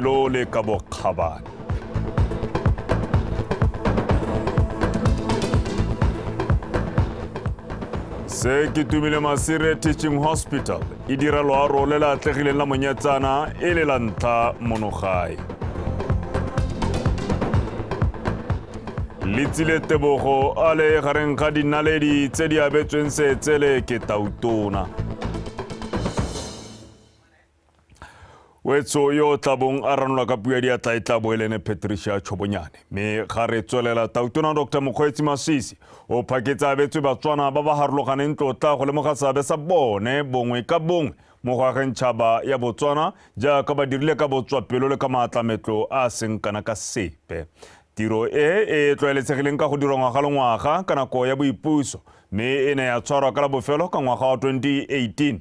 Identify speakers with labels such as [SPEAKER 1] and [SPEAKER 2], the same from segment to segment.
[SPEAKER 1] lo le ka bokgabane se ke tumile masire teaching hospital e dira loaro le le atlegileng la monyetsana e le la ntlha monogae letsile tebogo a le gareng ga dinaledi tse di abetsweng seetsele ke tautona wetso yo o tlabong a ranola ka puo ya diatla e tla bo e lene patricia tshobonyane mme ga re tswelela tautona dr mokgweetsi masisi o phaketse abetswe batswana ba ba harologaneng tlotla go lemoga seabe sa bone bongwe ka bongwe mo go ageng tšhaba ya botswana jaaka ba dirile ka botswapelo le ka maatlametlo a a seng kana ka sepe tiro e e tlwaeletsegileng ka go dirwa ngwaga le ngwaga ka nako ya boipuso mme e ne ya tshwarwa ka la bofelo ka ngwaga wa 2018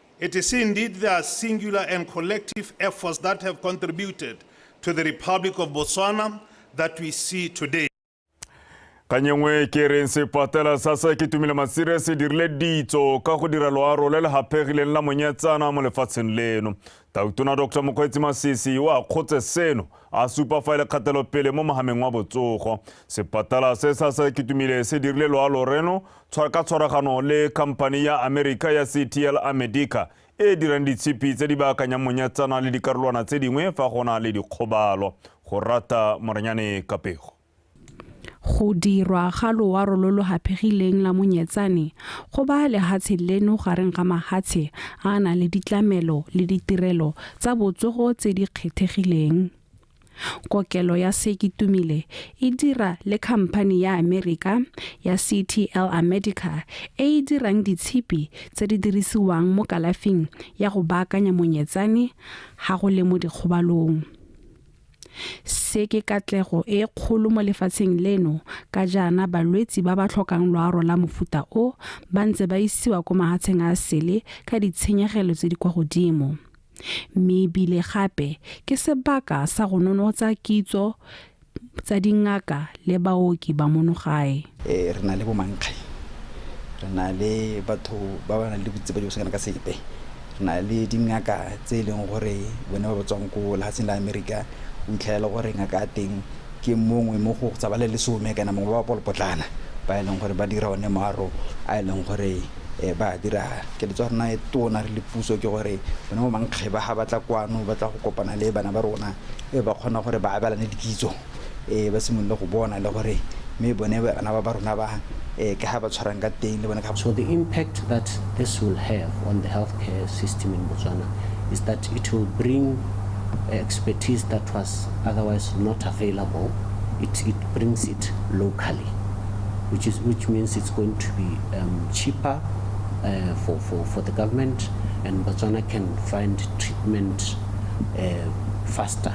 [SPEAKER 2] It is indeed their singular and collective efforts that have contributed to the Republic of Botswana that we see today.
[SPEAKER 1] kanyengwe ke reng sepatela sa sa ke tumile masire se dirile ditso ka go dira loaro le le gapegileng la monyetsana mo lefatsheng leno tautona dr mokgweetsi masisi o a kgotse seno a supa fa e le kgatelopele mo mogameng wa botsogo sepatala se sa sa ke tumile se dirile loalo reno ka tshwaragano le khamphani ya Amerika ya CTL America e e dirang ditshipi tse di baakanyang monyatsana le dikarolwana tse dingwe fa go na le dikgobalo go rata morenyane kapego
[SPEAKER 3] go dirwa ga loaro lo lo haphegileng la monyetsane go ba lehatshe leno gareng ga mahatshe a a nang le ditlamelo le ditirelo tsa botsogo tse di kgethegileng Kokelo ya Sekitumile e dira le khamphani ya Amerika ya CTL America e e dirang ditshipi tse di dirisiwang mo kalafing ya go baakanya monyetsane ga go le mo dikgobalong. Se ke katlego e kgolo mo lefatsheng leno ka jaana balwetsi ba ba tlhokang loaro la mofuta o ba ntse ba isiwa kwa mahatsheng a sele ka ditshenyegelo tse di kwa godimo. mme ebile gape ke sebaka sa go nonotsa kitso tsa dingaka le baoki ba monogae eh, re na le
[SPEAKER 4] bomankge re na le batho ba ba nang le botse ba diosakana ka sepe re na le dingaka tse e leng gore bone ba ba tswang ko lefatsheng la amerika o itlhelela gore ngaka a teng ke mongwe mo go tsa ba le lesome kana mongwe ba ba polopotlana ba e leng gore ba dira one maaro a e leng gore um ba a dira. Keletso ya rona e tona re le puso ke gore bone bo mankgeba ga ba tla kwano ba tla go kopana le bana ba rona e ba kgona gore ba abelane dikitso um ba simolole go bona le gore mme bone bana ba ba rona ba um ke ga ba tshwarang ka teng le bone ka So the impact that
[SPEAKER 5] this will have on the healthcare system in Botswana is that it will bring expertise that was otherwise not available. It, it brings it locally. which is which means it's going to be um, cheaper uh, for, for, for the government and Botswana can find treatment uh, faster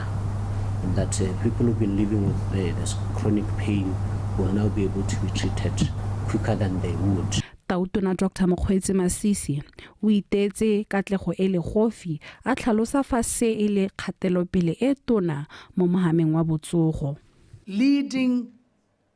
[SPEAKER 5] and that uh, people who've been living with uh, this chronic pain will now be able to be treated quicker than they would tautona dr
[SPEAKER 3] mokgweetse masisi o itetse katlego e le gofi a tlhalosa fa se e le kgatelopele e tona mo mohameng wa botsogo leading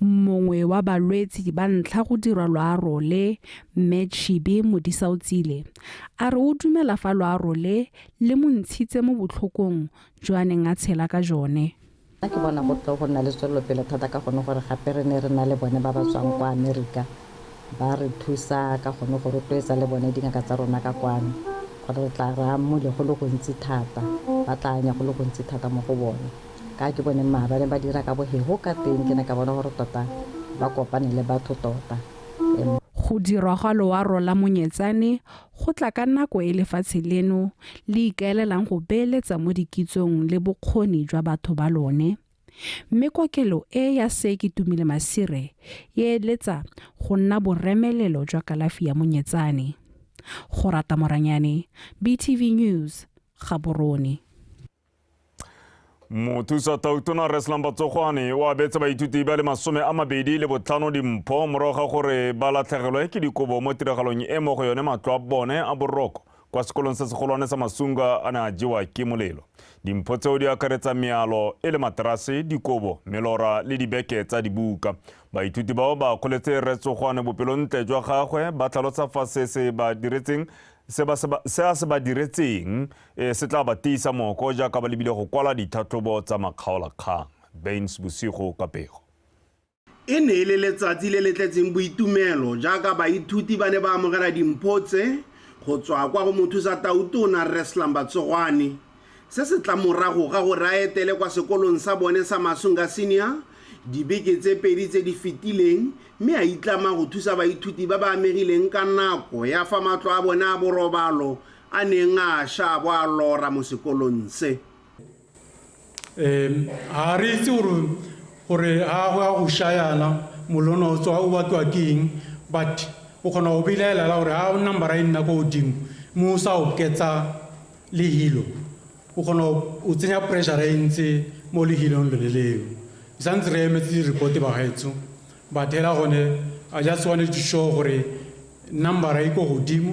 [SPEAKER 6] Mongwe wa
[SPEAKER 3] balwetsi ba ntlha go dirwa loaro le, Mme Chibi Modisaotsile, a re o dumela fa loaro le le mo ntshitse mo botlhokong jo a neng a tshela ka jone. Nna ke bona go
[SPEAKER 7] tle go nna le tswelelopele thata ka gone gore gape re ne re na le bone ba ba tswang kwa Amerika Ba re thusa ka gone go rotloetsa le bone dingaka tsa rona ka kwano gore re tla re amole go le gontsi thata, ba tla anya go le gontsi thata mo go bone. Ka ke bone mma ba ne ba dira ka bohego ka teng, ke ne ka bona gore tota ba kopane le batho tota. Go
[SPEAKER 3] dirwa ga loaro la Monyetsane go tla ka nako e lefatshe leno le ikaelelang go beeletsa mo dikitsong le bokgoni jwa batho ba lone. Mme kokelo e ya Seki Tumile Masire e eletsa go nna boremelelo jwa kalafi ya monyetsane. Go rata Moranyane, BTV News, Gaborone.
[SPEAKER 1] Mothusa Tautona Reslam Batsogwane o abetse baithuti ba le masome a mabedi le botlhano dimpho morago ga gore ba latlhegelwe ke dikobo mo tiragalong e mo go yone matlo a bone a boroko kwa sekolong se segolwane sa masunga a ne a jewa ke molelo dimpho tseo di akaretsa mealo e le materase dikobo melora le dibeke tsa dibuka baithuti bao ba kgoletse retsogwane bopelontle jwa gagwe ba tlhalosa fa se se ba diretseng se a se ba diretseng e, se tla ba tiisa moko jaaka ba lebile go kwala ditlhatlhobo tsa makgaolakgang bains bosigo ka pego E
[SPEAKER 8] ne e le letsatsi le le tletseng boitumelo jaaka baithuti ba ne ba amogela dimpho tse go tswa kwa go Mothusa Tautona Rre Slumber Tsogwane. Se se tla morago ga gore a etele kwa sekolong sa bone sa Masunga Senior dibeke tse pedi tse di fetileng mme a itlama go thusa baithuti ba ba amegileng ka nako ya fa matlo a bone a borobalo a neng a sha a bo a lora mo sekolong se. um
[SPEAKER 9] ga re itse gore ga go ya go shayana molono o tswa o bakiwa ke eng but o kgona go belaelela gore ga o number e nna ko godimo mo o sa oketsa lehilo o kgona o tsenya pressure e ntse mo lehilong lone leo santse re emetse di-report bagaetsho but hela gone i just wanted to show gore number e ko godimo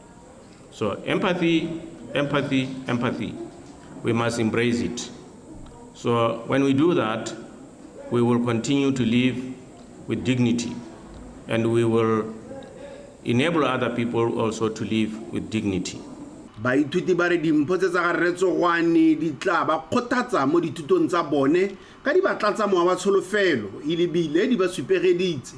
[SPEAKER 10] So empathy, empathy, empathy. We must embrace it. So when we do that, we will continue to live with dignity and we will enable other people also to live with dignity. baithuti
[SPEAKER 8] ba re dimpho tse tsa ga rretsogwane di tla ba kgothatsa mo dithutong tsa bone ka di ba tlatsa mowa wa tsholofelo e lebile di ba supegeditse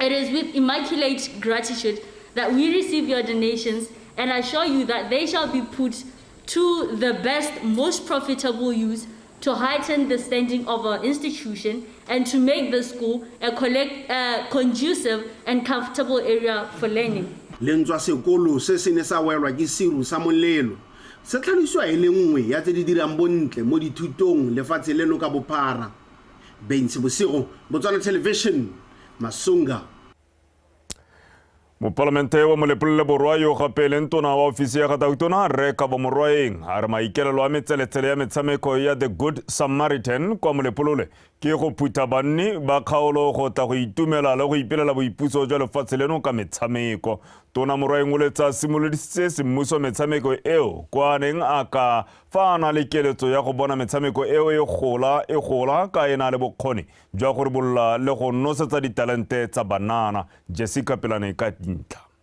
[SPEAKER 11] It is with
[SPEAKER 12] immaculate gratitude that we receive your donations and assure you that they shall be put to the best, most profitable use to heighten the standing of our institution and to make the school a, collect, a conducive and comfortable area
[SPEAKER 8] for learning. lentswa sekolo se se ne sa welwa
[SPEAKER 12] ke
[SPEAKER 8] seru sa molelo se tlhalosiwa e le nngwe ya tse di dirang bontle mo dithutong lefatshe leno ka bophara Bentsi Bosigo, Botswana Television, Masunga.
[SPEAKER 1] mopalamente wa molepolele borwa yo gape e leng tona wa ofisi ya ga tautona rre kabo morwaeng a re maikelelo a metseletsele ya metshameko ya the good samaritan kwa molepolole ke go phutha banni ba kgaolo go tla go itumela le go ipelela boipuso jwa lefatshe leno ka metshameko tona morwaeng o letsa simolodisitse semmuso metshameko eo kwa neng a ka fa a na le keletso ya go bona metshameko eo e gola e gola ka e na le bokgoni jwa go ribolola le go nosetsa ditalente tsa banana jessica pelane ka dintlha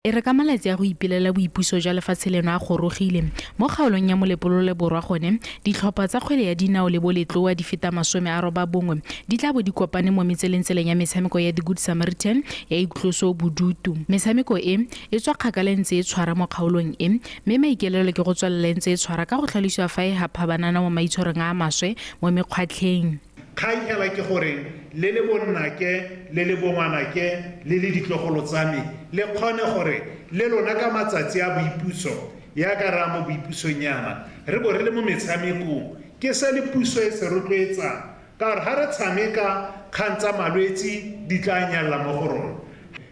[SPEAKER 1] E re ka
[SPEAKER 13] malatsi a go ipelela boipuso jwa lefatshe leno a gorogile, mo kgaolong ya Molepolole Borwa gone, ditlhopha tsa kgwele ya dinao le boletloa di feta masome a robabongwe di tla bo di kopane mo metselengtseleng ya metshameko ya The Good Samaritan ya iktloso bodutu. Metshameko e, e tswa kgakala e ntse e tshwara mo kgaolong e, mme maikelelo ke go tswelela e ntse e tshwara ka go tlhalosiwa fa e hapha banana mo maitshwarong a a maswe mo mekgwatlheng. Kgang fela ke
[SPEAKER 2] gore le le bonnake le le bongwanake le le ditlogolo tsa me le kgone gore le lona ka matsatsi a boipuso, yaka re a mo boipusong yana, re bo re le mo metshamekong. Ke se le puso e se rotloetsang, ka gore ga re tshameka, kgang tsa malwetsi di tla nyalla mo go rona,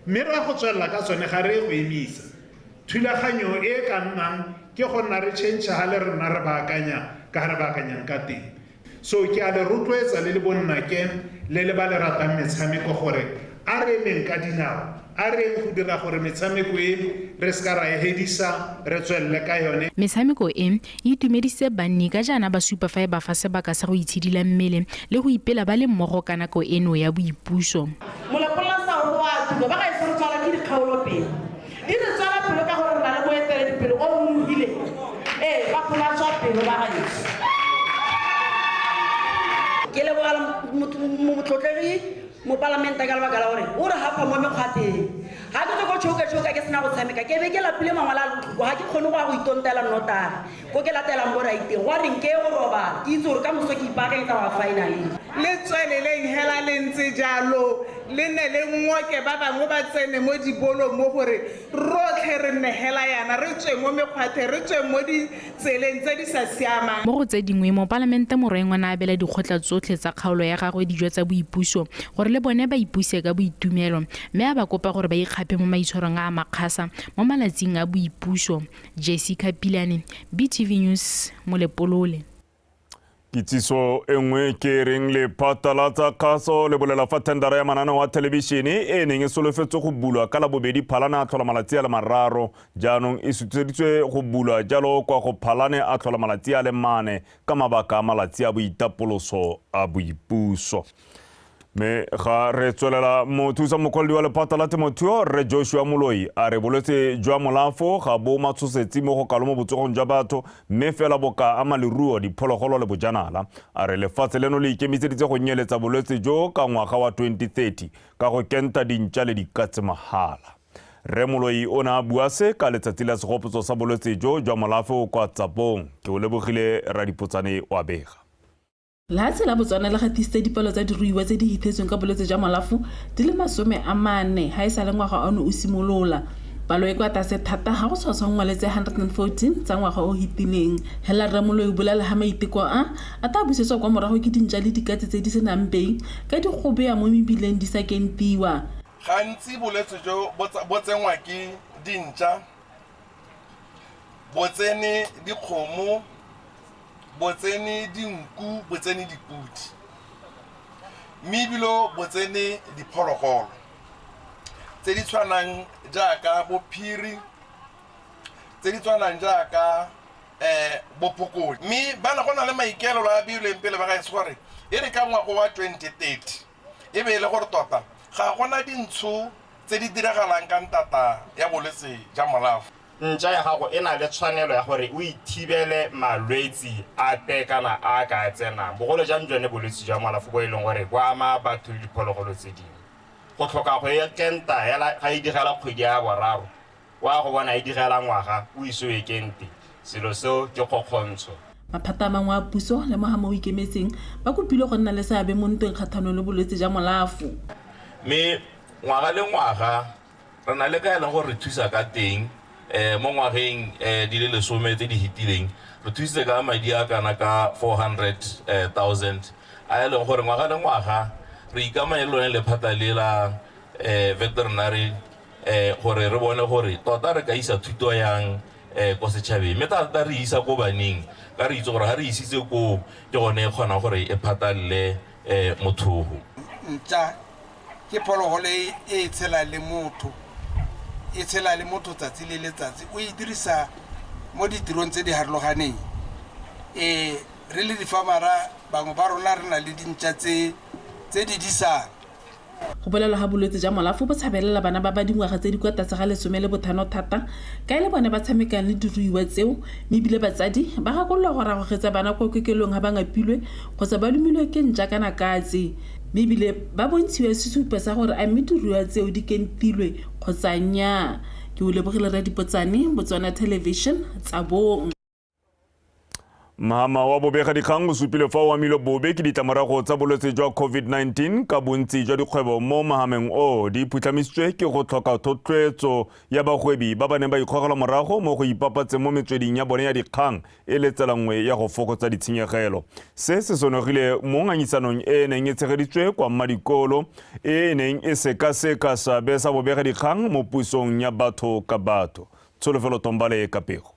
[SPEAKER 2] mme re a go tswelela ka tsone, ga re ye go emisa. Thulaganyo e e ka nnang ke go nna re change ha le rena re baakanya ka ha re baakanyang ka teng. So ke a le rotloetsa le le bonnake le le ba le ratang metshameko gore a re emeng ka dinao, a re eng go dira gore metshameko e re se ka ra e hedisa re tswelele ka yone. Metshameko e, e
[SPEAKER 13] itumedisitse banni ka jaana ba supa fa e ba fa sebaka sa go itshidila mmele le go ipela ba le mmogo ka nako eno ya boipuso. Molapololasa
[SPEAKER 14] o re o a tuma, ba gaetsho re tshwarwa ke dikgaolo pele. Di re tswela pelo ka gore re na le moeteledipele o o nonofileng. Ee, ba gola tswa pelo ba gaetsho. Ke leboga motlotlegi mopalamente ka lebaka la gore o re gafa mo mekgwateng. Ga ke tswe ko Chouka Chouka ke sena go tshameka, ke be ke lapile mangwele a lotlhoko, ga ke kgone go ya go itontela nnotagi. Ko ke latelang bo Raiteng. Gwa reng ke ye go robala, ke itse gore ka moso ke ipaakanyetsa go ya finaleng. Le tsweleleng hela le ntse jalo, le ne le ngoke ba bangwe ba tsene mo dibolong mo gore rotlhe re nne hela yana, re tsweng mo mekgwatheng, re tsweng mo ditseleng tse di sa siamang. Mo go tse dingwe,
[SPEAKER 13] Mopalamente Morwengo ne a abela dikgotla tsotlhe tsa kgaolo ya gagwe dijo tsa boipuso gore le bone ba ipuse ka boitumelo mme a ba kopa gore ba ikgaphe mo maitshwarong a a makgasa mo malatsing a boipuso Jessica Pilane, BTV News, Molepolole.
[SPEAKER 1] Kitsiso e nngwe ke e reng lephata la tsa kgaso le bolela fa thendara ya mananeo wa thelebišene e neng e solofetswe go bulwa ka labobedi phalane a tlhola malatsi a le mararo jaanong e sutuseditswe go bulwa jalo kwa go phalane a tlhola malatsi a le mane ka mabaka a malatsi a boitapoloso a boipuso mme ga re tswelela mothusa mokwaledi wa lephata la temothuo rre joshua moloi a re bolwetse jwa molafo ga bo matshosetsi mo go kalo mo botsogong jwa batho mme fela bo ka ama leruo diphologolo le bojanala a re lefatshe leno le ikemiseditse go nyeletsa bolwetse jo ka ngwaga wa 2030 ka go kenta dintša le dikatse mahala rre moloi o ne a bua se ka letsatsi la segopotso sa bolwetse jo jwa molafo kwa tsapong ke o lebogile radipotsane wa bega Lehatshe
[SPEAKER 15] la Botswana le gatisitse dipalo tsa diruiwa tse di hithetsweng ka bolwetse jwa molafo di le masome a mane ga e sa le ngwaga ono o simolola. Palo e kwa tlase thata ga go tshwatshwangwa le tse 114 tsa ngwaga o hitileng. Hela Rre Moloi o bolale ha maiteko a a tla busetswa kwa morago ke dintša le dikatse tse di se nang bei ka di gobea mo mebileng di sa kentiwa. Gantsi
[SPEAKER 16] bolwetse jo bo tsenngwa ke dintša, bo tsene dikgomo, Botsene dinku, botsene dipodi, mme ebile botsene diphologolo tse di tshwanang jaaka bo phiri, tse di tshwanang jaaka bo phokojwe. Mme go na le maikaelelo a beilweng pele ba gaetsho gore e re ka ngwaga wa twenty thirty. e be e le gore tota ga go na dintsho tse di diragalang ka ntata ya bolwetse ja molafo. Ntša ya gago e
[SPEAKER 17] na le tshwanelo ya gore o ithibele malwetse ape kana a a ka tsenang, bogolo jang jone bolwetse jwa molafo bo e leng gore bo ama batho le diphologolo tse dingwe. Go tlhoka go e kenta hela ga e digela kgwedi ya boraro O a go bona e direla ngwaga o ise o ekente, selo seo ke kgokgontsho. Maphata a mangwe
[SPEAKER 15] a puso le mohama o ikemetseng ba kopilwe go nna le seabe mo ntweng kgatlhanong le bolwetse ja molafo. Mme
[SPEAKER 18] ngwaga le ngwaga re na le ka e leng gore re thusa ka teng. Mo ngwageng di le lesome tse di fetileng re thusitse ka madi a kana ka four hundred thousand a e leng gore ngwaga le ngwaga re ikamanye le lone lephata le la veterinary gore re bone gore tota re ka isa thuto yang um ko setšhabeng mme thata re isa ko baneng ka re itse gore ga re isitse koo ke gone e kgonang gore e phatalele um mothogo ntša
[SPEAKER 19] ke phologolo e e tshela le motho e tshela le motho tsatsi le letsatsi o e dirisa mo ditirong tse di harologaneng um re le difamara bangwe ba rona re na le dintša tse di disang Go bolelwa
[SPEAKER 15] ga bolwetse ja molafo bo tshabelela bana ba ba dingwaga tse di kwa tlase ga lesome le bothano thata ka e le bone ba tshamekang le diruiwa tseo mme ebile batsadi ba gakololwa go ragogetsa bana kwa kokelong ga ba ngapilwe kgotsa ba lumilwe ke nja kana katse mme ebile ba bontshiwa sesupo sa gore a mme diruiwa tseo di kentilwe kgotsa nnyaa. Ke o lebogile Rre Dipotsane, Botswana Television, Tsabong. Mahama
[SPEAKER 1] wa bobegadikgang o supile fa o amilwe bobe ke ditlamorago tsa bolwetse jwa COVID-19 ka bontsi jwa dikgwebo mo mahameng o di phutlhamisitswe ke go tlhoka thotloetso ya bagwebi ba ba neng ba ikgogela morago mo go ipapatseng mo metsweding ya bone ya dikgang e le tsela nngwe ya go fokotsa ditshenyegelo se se sonogile mo ngangisanong e e neng e tshegeditswe kwa mmadikolo e e neng e sekaseka seabe sa bobegadikgang mo pusong ya batho ka batho tsholofelo tombale ka pego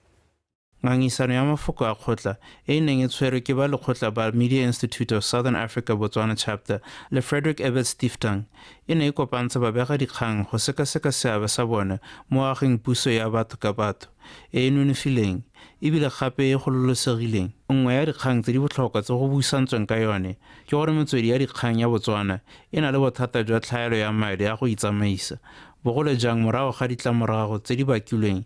[SPEAKER 1] Ngangisano
[SPEAKER 20] ya mafoko a kgotla e e neng e tshwerwe ke ba lekgotla ba Media Institute of Southern Africa Botswana Chapter le Frederick Ebert Stiftung e ne e kopantsha babega dikgang go sekaseka seabe sa bone mo ageng puso ya batho ka batho e e nonofileng ebile gape e gololosegileng. Nngwe ya dikgang tse di botlhokwa tse go buisantsweng ka yone ke gore metswedi ya dikgang ya Botswana e na le bothata jwa tlhaelo ya madi a go itsamaisa, bogolo jang morago ga ditlamorago tse di bakilweng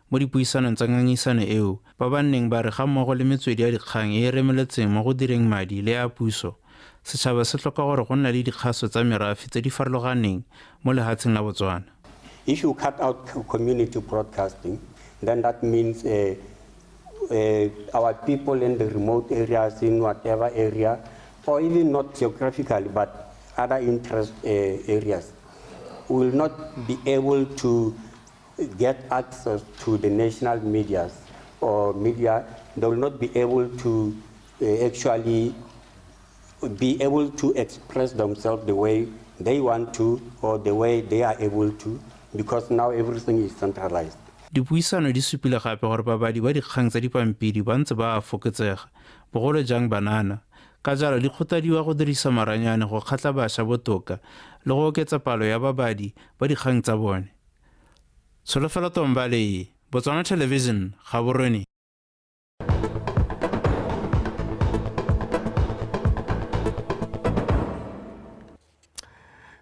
[SPEAKER 20] Mo dipuisanong tsa ngangisano eo, ba ba nneng ba re ga mmogo le metswedi ya dikgang e e remeletseng mo go direng madi le a puso, setšhaba se tlhoka gore go nna le dikgaso tsa merafe tse di farologaneng mo lehatsheng la Botswana. If you cut
[SPEAKER 21] out community broadcasting then that means our people in the remote areas in whatever area or even not geographically but other interest areas will not be able to get access to the national media or media, they will not be able to uh, actually be able to express themselves the way they want to or the way they are able to because now everything is centralized. dipuisano di
[SPEAKER 20] supile gape gore babadi ba dikgang tsa dipampiri ba ntse ba a fokotsega bogolo jang banana ka jalo di kgotladiwa go dirisa maranyane go kgatla bašwa botoka le go oketsa palo ya babadi ba dikgang tsa bone tsholofelo tombale botswana television ga borweni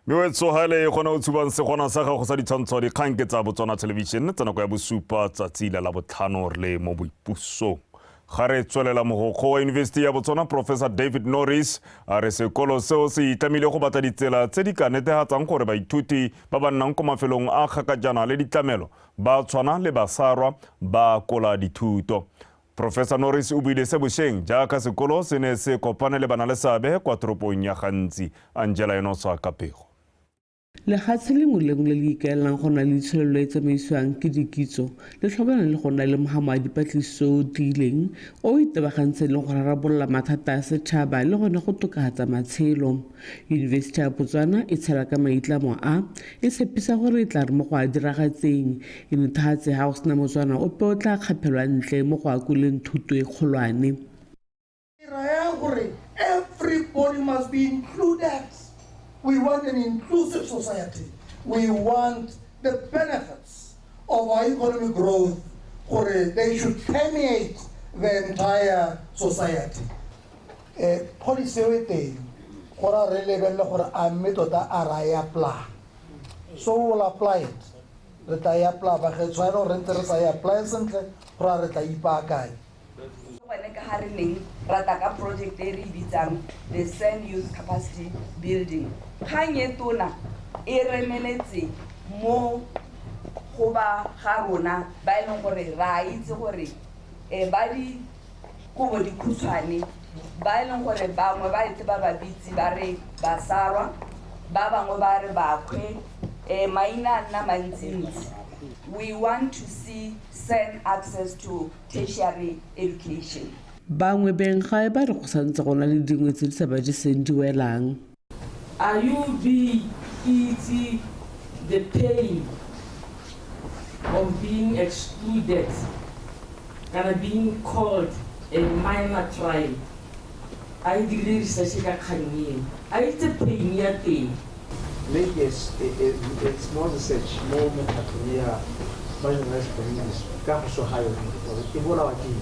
[SPEAKER 1] mme o tsogele gone o tshubang segona sa gago sa ditshwantsho dikgang ke tsa botswana television tsa nako ya bosupa tsatsi la labotlhano re le mo boipusong ga re tswelela mogokgo wa yunibesiti ya botswana professor david norris a re sekolo seo se itlamile go batla ditsela tse di ka netegatsang gore baithuti ba ba nnang ko mafelong a kgakajana le ditlamelo ba tshwana le basarwa ba kola dithuto Professor Norris o buile se bosheng jaaka sekolo se ne se kopane le bana le seabe kwa toropong ya gantsi Angela Enosa ka pego. Legatshe
[SPEAKER 4] lengwe le lengwe le le ikaelelang go nna le itsholelo e tsamaisiwang ke dikitso le tlhokana le go nna le mohamo wa dipatlisiso o tiileng o itebagantseng le go rarabolola mathata a setšhaba le gone go tokafatsa matshelo Yunibesiti ya Botswana e tshela ka maitlamo a, e tshepisa gore e tla re mo go a diragatseng, e nuthatse ga go sena Motswana ope o tla kgaphelwa ntle mo go akoleng thuto e kgolwane. Ke raya gore
[SPEAKER 5] everybody must be included. We want an inclusive society. We want the benefits of our economic growth gore they should permeate the entire society. um policy eo e teng go ra re lebelele gore a mme tota a ra e apply so will apply it re tla e apply ba ge tshwanelo re ntse re sa e apply sentle go ra re tla ipaakanye gone ka ga re neng
[SPEAKER 22] rata ka project e re e bitsang the sand youth capacity building kgang e tona e remeletse mo go ba ga rona ba e leng gore ra itse gore um ba di kobo dikhutshwane ba e leng gore bangwe ba etse ba ba bitse ba re basarwa ba bangwe ba re bakgwe um maina a nna mantsintsi we want to see send access to tertiary education bangwe
[SPEAKER 4] benggae ba re go santse go na le dingwe tse di sa ba jeseng di welang Are
[SPEAKER 6] you being easy the pain of being excluded kana being called a minor tribe a e dirile research ka kgang eo a itse pain ya teng Make a,
[SPEAKER 23] a, a, a small research mo mekgatlhong ya marginalized communities ka go so ga yone gore e bolawa ke eng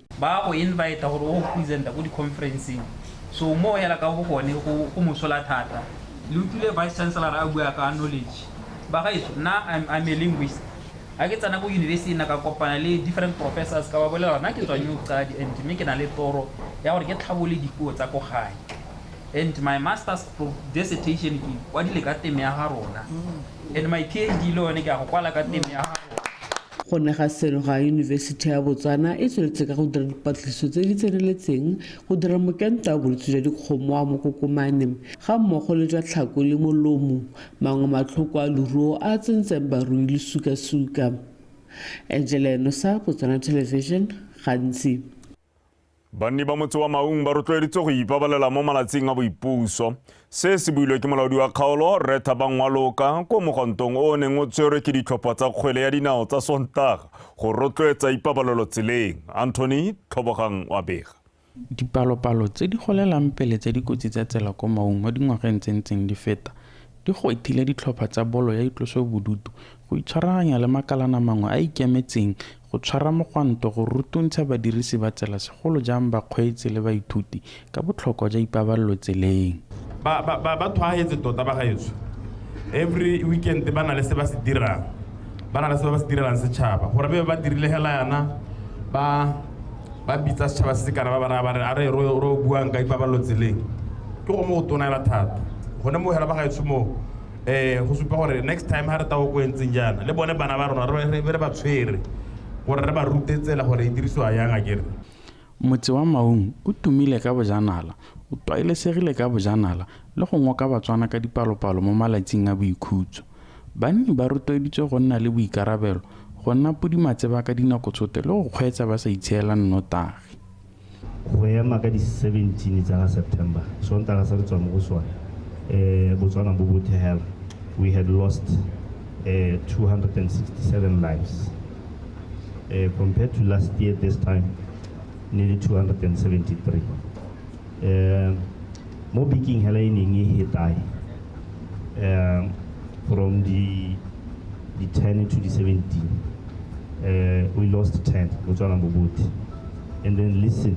[SPEAKER 4] ba go invite
[SPEAKER 24] gore o presenta ko di-conferenceng so mo hela ka go gone go go mosola thata le utlwile vice chancellor a bua ka knowledge ba gaetso nna I'm, I'm a linguist a ke tsena ko university na ka kopana le different professors ka ba bolela nna ke tswang yo tsadi and mme ke na le toro ya gore ke tlhabole dipuo tsa ko gae and my master's pro- dissertation ke kwadile ka teme ya ga rona and my phd le yone ke a go kwala ka teme ya ga rona Go ne ga
[SPEAKER 4] seno ga Yunibesiti ya Botswana e tsweletse ka go dira dipatlisiso tse di tseneletseng go dira mokento wa bolwetse jwa dikgomo wa mokokomane ga mmogo le jwa tlhako le molomo, mangwe matlhoko a loruo a a tsentseng barui le sukasuka. Angela Enosa, Botswana Television, Gantsi.
[SPEAKER 1] Banni ba motse wa Maung ba rotloeditswe go ipabalela mo malatsing a boipuso. Se se builwe ke molaodi wa kgaolo Rre Thabang Waloka ko mogontong o o neng o tshwerwe ke ditlhopha tsa kgwele ya dinao tsa Sontaga go rotloetsa ipabalelo tseleng. Anthony Tlhobogang wa bega. Dipalopalo
[SPEAKER 20] tse di golelang pele tsa dikotsi tsa tsela ko Maung mo dingwageng tse ntseng di feta di gwetlhile ditlhopha tsa bolo ya itlosobodutu Go itshwaraganya le makalana mangwe a ikemetseng go tshwara mogwanto go rutuntsha badirisi ba tsela segolo jang bakgweetsi le baithuti ka botlhokwa jwa ipabalelo tseleng. Ba ba ba ba
[SPEAKER 25] tshwaagetse tota bagaetsho. Every weekend ba na le se ba se dirang. Ba na le se ba ba se direlang setšhaba. Gore be ba dirile hela yana ba ba bitsa setšhaba se se kana ba ba raya ba re a re ro ro buang ka ipabalelo tseleng. Ke go mo go tona hela thata. Gone mo hela bagaetsho mo um go supa gore next time ga re tago ko entseng jaana le bone bana ba rona re be re ba tshwere gore re ba rute tsela gore e dirisiwa yang a kere motse wa
[SPEAKER 20] maung o tumile ka bojanala o twaelesegile ka bojanala le go ngoka batswana ka dipalopalo mo malatsing a boikhutso banni ba rotloeditswe go nna le boikarabelo go nna pudimatseba ka dinako tshote le go kgweetsa ba sa itsheela nnotagi go
[SPEAKER 26] ema ka di-seventeen tsa ga september sontaga se re tswa mo go sone um botswana bo bothe hela we had lost uh, eh, 267 lives uh, compared to last year this time nearly 273 uh, mo biking hela e neng e hetae uh, from the the 10 to the 17 uh, we lost 10 botswana bo bothe and then listen.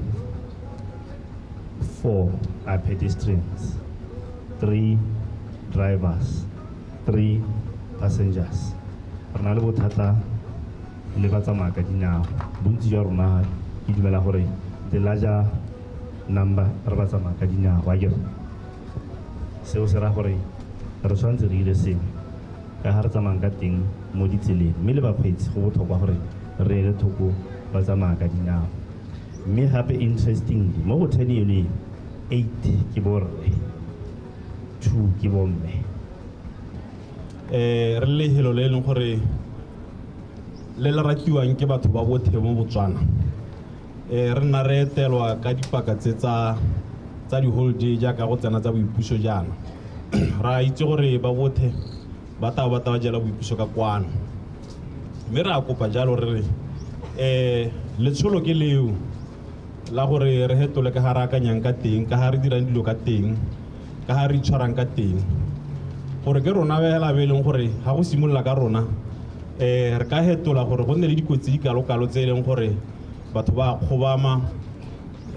[SPEAKER 26] Four are pedestrians, three drivers, three passengers. Re na le bothata le ba tsamaya ka dinao. Bontsi jwa rona ke dumela gore the larger number re ba tsamaya ka dinao. Wa ke re? seo se ra gore re tshwanetse re dire sengwe ka ga re tsamayang ka teng mo ditseleng mme le bakgweetsi go botlhokwa gore re ele thoko ba tsamaya ka dinao mme gape interestingly mo go ten yone eight ke borre two ke bomme eh
[SPEAKER 25] re le helo le leng gore le le rakiwang ke batho ba bothe mo botswana eh, re nna re etelwa ka dipaka tse tsa tsa di-holiday jaaka go tsena tsa boipuso jaana ra itse gore ba bothe ba tao ba tao jela boipuso ka kwano mme re a kopa jalo re re eh letsholo ke leo la gore re hetole ka ga re akanyang ka teng ka ga re dirang dilo ka teng ka ga re itshwarang ka teng gore ke rona fela be e leng gore ga go simolola ka rona um re ka hetola gore go nne le dikotsi di kalokalo tse e leng gore batho ba a kgobama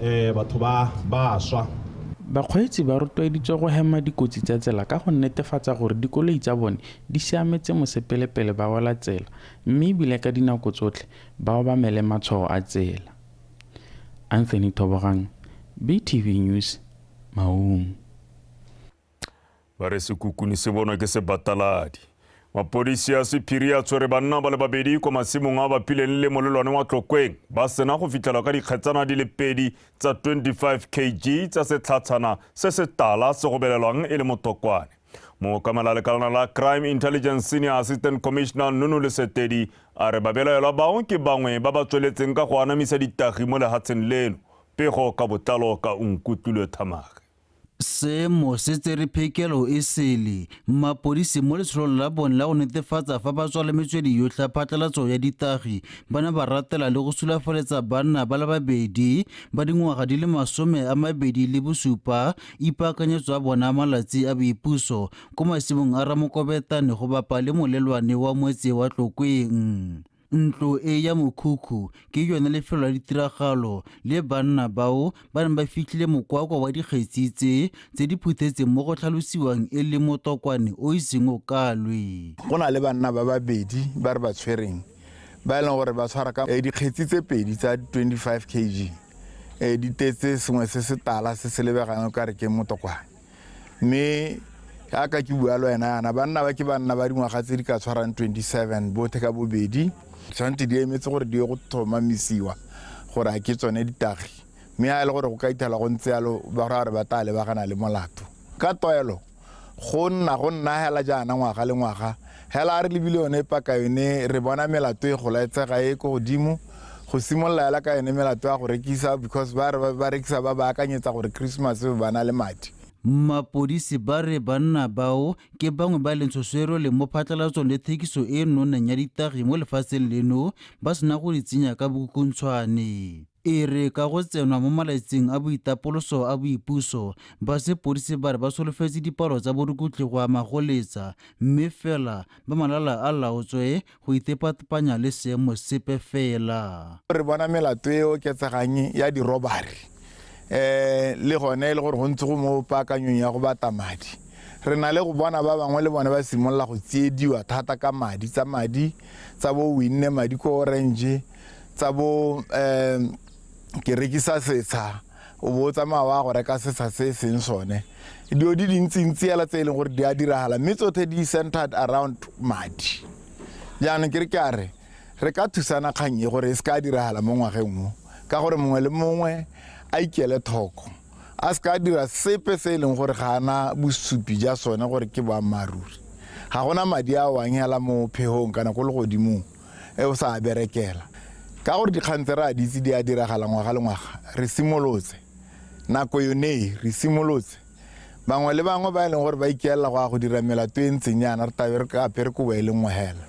[SPEAKER 25] um batho ba ba swa Bakgweetsi ba
[SPEAKER 2] rotloeditswe go hema dikotsi tsa tsela ka go netefatsa gore dikoloi tsa bone di siametse mosepele pele ba wela tsela mme ebile ka dinako tsotlhe ba obamele matshwao a tsela. Anthony Thobogang, BTV News, Maun.
[SPEAKER 1] ba re sekukuni se bonwa ke sebataladi mapodisi a sephiri a tshwere banna ba le babedi kwa masimong a bapileng le molelwane wa tlokweng ba sena go fitlhelwa ka dikgetsana di le pedi tsa 25 kg tsa setlhatshana se se tala se go belelwang e le motokwane mookamela lekalana la crime intelligence senior assistant commissioner nunu lesetedi a re babelaelwa bao ke bangwe ba ba tsweletseng ka go anamisa ditagi mo lehatsheng leno pego ka botlalo ka unkutlulwe thamage Seemo
[SPEAKER 3] se tsere phekelo e sele mapodisi mo letsholong la bone la go netefatsa fa ba tswale metswedi yotlhe ya phatlalatso ya ditagi ba ne ba ratela le go sulafaletsa banna ba le babedi ba dingwaga di le masome a mabedi le bosupa ipaakanyetso a bona malatsi a boipuso ko masimong a ramokobetane go bapa le molelwane wa moetse wa tlokweng Ntlo e ya mokhukhu ke yone lefelo la ditiragalo le banna bao ba neng ba fitlhile mokwakwa wa dikgetsi tse tse di phuthetseng mo go tlhalosiwang e le motokwane o iseng o kalwe. Go na le banna ba
[SPEAKER 7] babedi ba re ba tshwereng ba e leng gore ba tshwara ka eh, dikgetsi tse pedi tsa 25 kg eh, di tetse sengwe se se tala se se lebegang o ka re ke motokwane. mme ka ka ke bua le wena yana banna ba ke banna ba dingwaga tse di ka tshwarang 27 bothe ka bobedi tshwanetse di emetse gore di ye go tlhomamisiwa gore a ke tsone ditagi mme a e le gore go ka ithala go ntse yalo ba ra gore ba tla lebagana le molato ka toelo go nna go nna hela jaana ngwaga le ngwaga Hela a re lebile yone epa ka yone re bona melato e golaetsega e ko godimo go simolola hela ka yone melato ya go rekisa because ba re ba rekisa ba ba akanyetsa gore Christmas ba na le madi. Mapodisi
[SPEAKER 3] ba re banna bao ke bangwe ba e leng tshoswero le mo phatlalatsong le thekiso e e nonneng ya ditagi mo lefatsheng leno ba sena go di tsenya ka bokukuntshwane. E re ka go tsenwa mo malatsing a boitapoloso a boipuso, ba sepodisi ba re ba solofetse dipalo tsa borukutlhi go a magoletsa mme fela ba malala a laotswe go itepatepanya le seemo sepe fela. Re bona melato
[SPEAKER 7] e e oketsegang ya dirobari le gone e le gore go ntse go mo paakanyong ya go bata madi. Re na le go bona ba bangwe le bone ba simolola go tsiediwa thata ka madi, tsa madi tsa bo o winne madi ko Orange, tsa bo um ke rekisa setsha o bo o tsamaya wa go reka setsha se e seng sone dilo di dintsintsi ela tse e leng gore di a diragala mme tsothe di centered around madi jaanong ke re ke a re re ka thusana kgang e gore e se ka diragala mo ngwageng mo ka gore mongwe le mongwe a ikele thoko a se ka dira sepe se e leng gore ga ana bosupi ja sone gore ke boammaaruri ga gona madi a wang hela mo phegong kana ko legodimong e o sa a berekela. Ka gore dikgang tse re a ditse di a diragala ngwaga le ngwaga, re simolotse nako yonee, re simolotse bangwe le bangwe ba e leng gore ba ikeelela go ya go dira melato e ntseng yana re tabe re apere kobo e le nngwe hela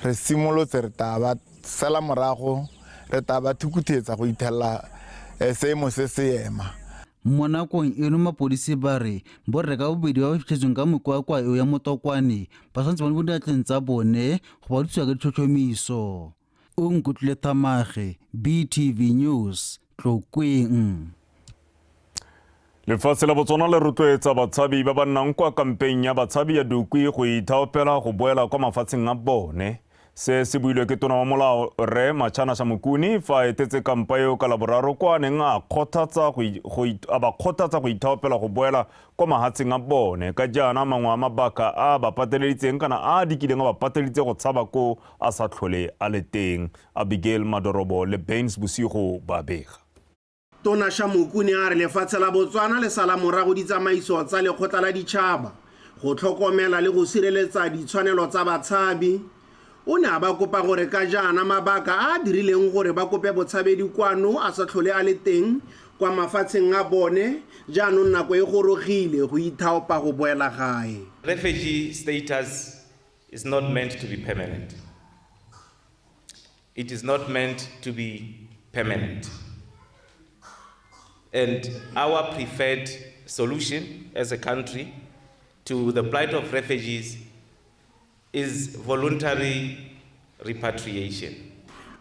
[SPEAKER 7] re simolotse re taa ba sela morago re taa ba thukuthetsa go ithelela eh, seemo se se ema Mo nakong
[SPEAKER 3] eno mapodisi ba re borre ka bobedi ba ba fitlhetsweng ka mokwakwa eo ya motokwane ba santse ba le mo diatleng tsa bone go ba dutsiwa ka ditlhotlhomiso. O nkutlwile Thamage, BTV News, Tlokweng.
[SPEAKER 1] Lefatshe la Botswana le rotloetsa batshabi ba ba nnang kwa kampeng ya batshabi ya Dukwi go ithaopela go boela kwa mafatsheng a bone. Se se builwe ke tona wa molao Rre Machanasha Mokuni fa a etetse kampa eo ka laboraro kwa a neng a ba kgothatsa go ithaopela go boela kwa mahatsheng a bone ka jaana mangwe a mabaka a ba pateleditseng kana a a dikileng a ba pateleditse go tshaba ko a sa tlhole a le teng. Abigail Madorobo le Baines Bosigo ba bega. Tona
[SPEAKER 8] Shamoku ne a re lefatshe la Botswana le sala morago ditsamaiso tsa Lekgotla la Ditšhaba go tlhokomela le go sireletsa ditshwanelo tsa batshabi. O ne a ba kopa gore ka jaana mabaka a a dirileng gore ba kope botshabedi kwano a sa tlhole a le teng kwa mafatsheng a bone, jaanong nako e gorogile go ithaopa go boela gae. Refugee
[SPEAKER 9] status is not meant to be permanent. It is not meant to be permanent. And our preferred solution as a country to the plight of refugees is voluntary repatriation.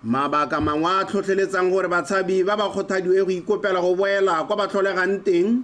[SPEAKER 8] mabaka mangwe a tlhotlheletsang gore batshabi ba ba kgothadiwe go ikopela go boela kwa ba tlholegang teng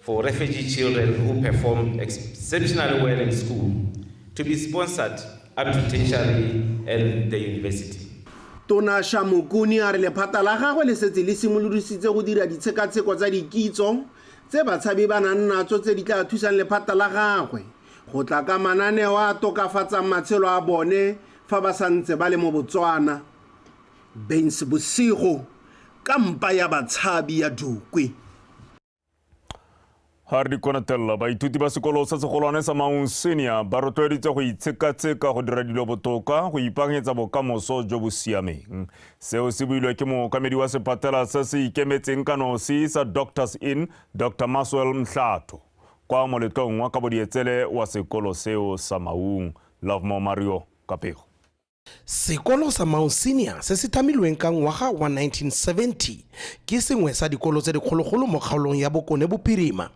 [SPEAKER 9] for refugee children who perform exceptionally well in school to be sponsored up to tertiary and the university. Tona
[SPEAKER 8] Shamokuni a re lephata la gagwe le setse le simolodisitse go dira ditshekatsheko tsa dikitso tse batshabi ba nang natso tse di tla thusang lephata la gagwe go tla ka mananeo a tokafatsang matshelo a bone fa ba sa ntse ba le mo Botswana. Baines Bosigo ka mpa ya batshabi ya Dukwi.
[SPEAKER 1] ga re di konatelela baithuti ba sekolo sa segolwane sa maung senior ba rotloeditse go itshekatsheka go dira dilo botoka go ipaakanyetsa bokamoso jo bo siameng seo se builwe ke mookamedi wa sephatela se se ikemetseng ka nosi sa doctors in dr maswell mhlato kwa moletlong wa kabodietsele wa sekolo seo sa maung lovemore mario ka pego Sekolo
[SPEAKER 12] sa Mau Senior se se thamilweng ka ngwaga wa 1970 ke sengwe sa dikolo tse dikgologolo mo kgaolong ya Bokone Bophirima.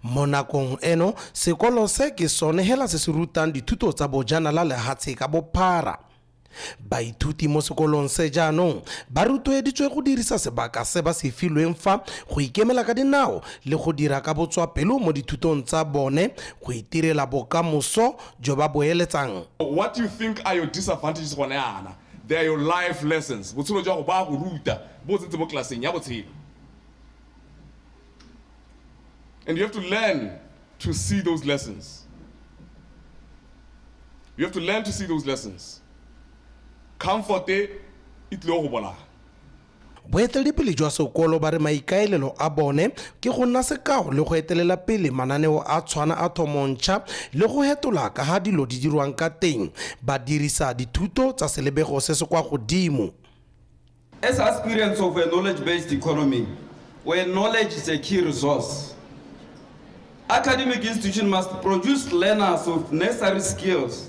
[SPEAKER 12] Mo nakong eno sekolo se ke sone hela se se rutang dithuto tsa bojanala lehatshe ka bophara. Baithuti mo sekolong se jaanong ba rotloeditswe go dirisa sebaka se ba se filweng fa go ikemela ka dinao le go dira ka botswapelo mo dithutong tsa bone go itirela bokamoso jo ba bo eletsang. What you think
[SPEAKER 13] are your disadvantages gone yana, they are your life lessons. Botshelo jwa go ba go ruta bo tsentse mo klaseng ya botshelo. And you have to learn to see those lessons. You have to learn to see those lessons. Comfort e tlile go bolaya. Boeteledipele
[SPEAKER 12] jwa sekolo ba re maikaelelo a bone ke go nna sekao le go etelela pele mananeo a tshwana a thomontšha le go hetola ka ga dilo di dirwang ka teng ba dirisa dithuto tsa selebego se se kwa godimo.
[SPEAKER 14] As aspirants of a knowledge based economy where knowledge is a key resource, academic institutions must produce learners of necessary skills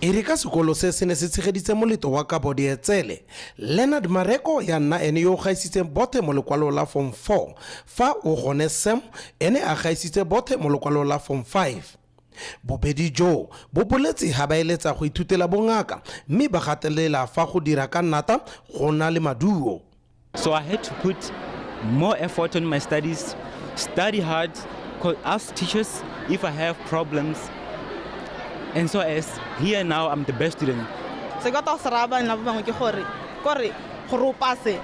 [SPEAKER 16] E re ka
[SPEAKER 12] sekolo se se ne se tshegeditse moletlo wa kabo dietsele, Leonard Mareko ya nna ene yo o gaisitseng bothe mo lekwalong la Form Four fa o gone Sam ene a gaisitse bothe mo lekwalong la Form Five. Bobedi joo bo boletse ha ba eletsa go ithutela bongaka mme ba gatelela fa go dira ka nata go na le maduo. So I had to
[SPEAKER 17] put more effort on my studies, study hard, ask teachers if I have problems.
[SPEAKER 27] And so
[SPEAKER 17] as here
[SPEAKER 27] now, I'm
[SPEAKER 17] the best
[SPEAKER 27] student.
[SPEAKER 17] se ka
[SPEAKER 27] tao se
[SPEAKER 17] raya bane
[SPEAKER 27] ba bangwe
[SPEAKER 17] ke
[SPEAKER 27] gore
[SPEAKER 17] kore
[SPEAKER 5] gore o pase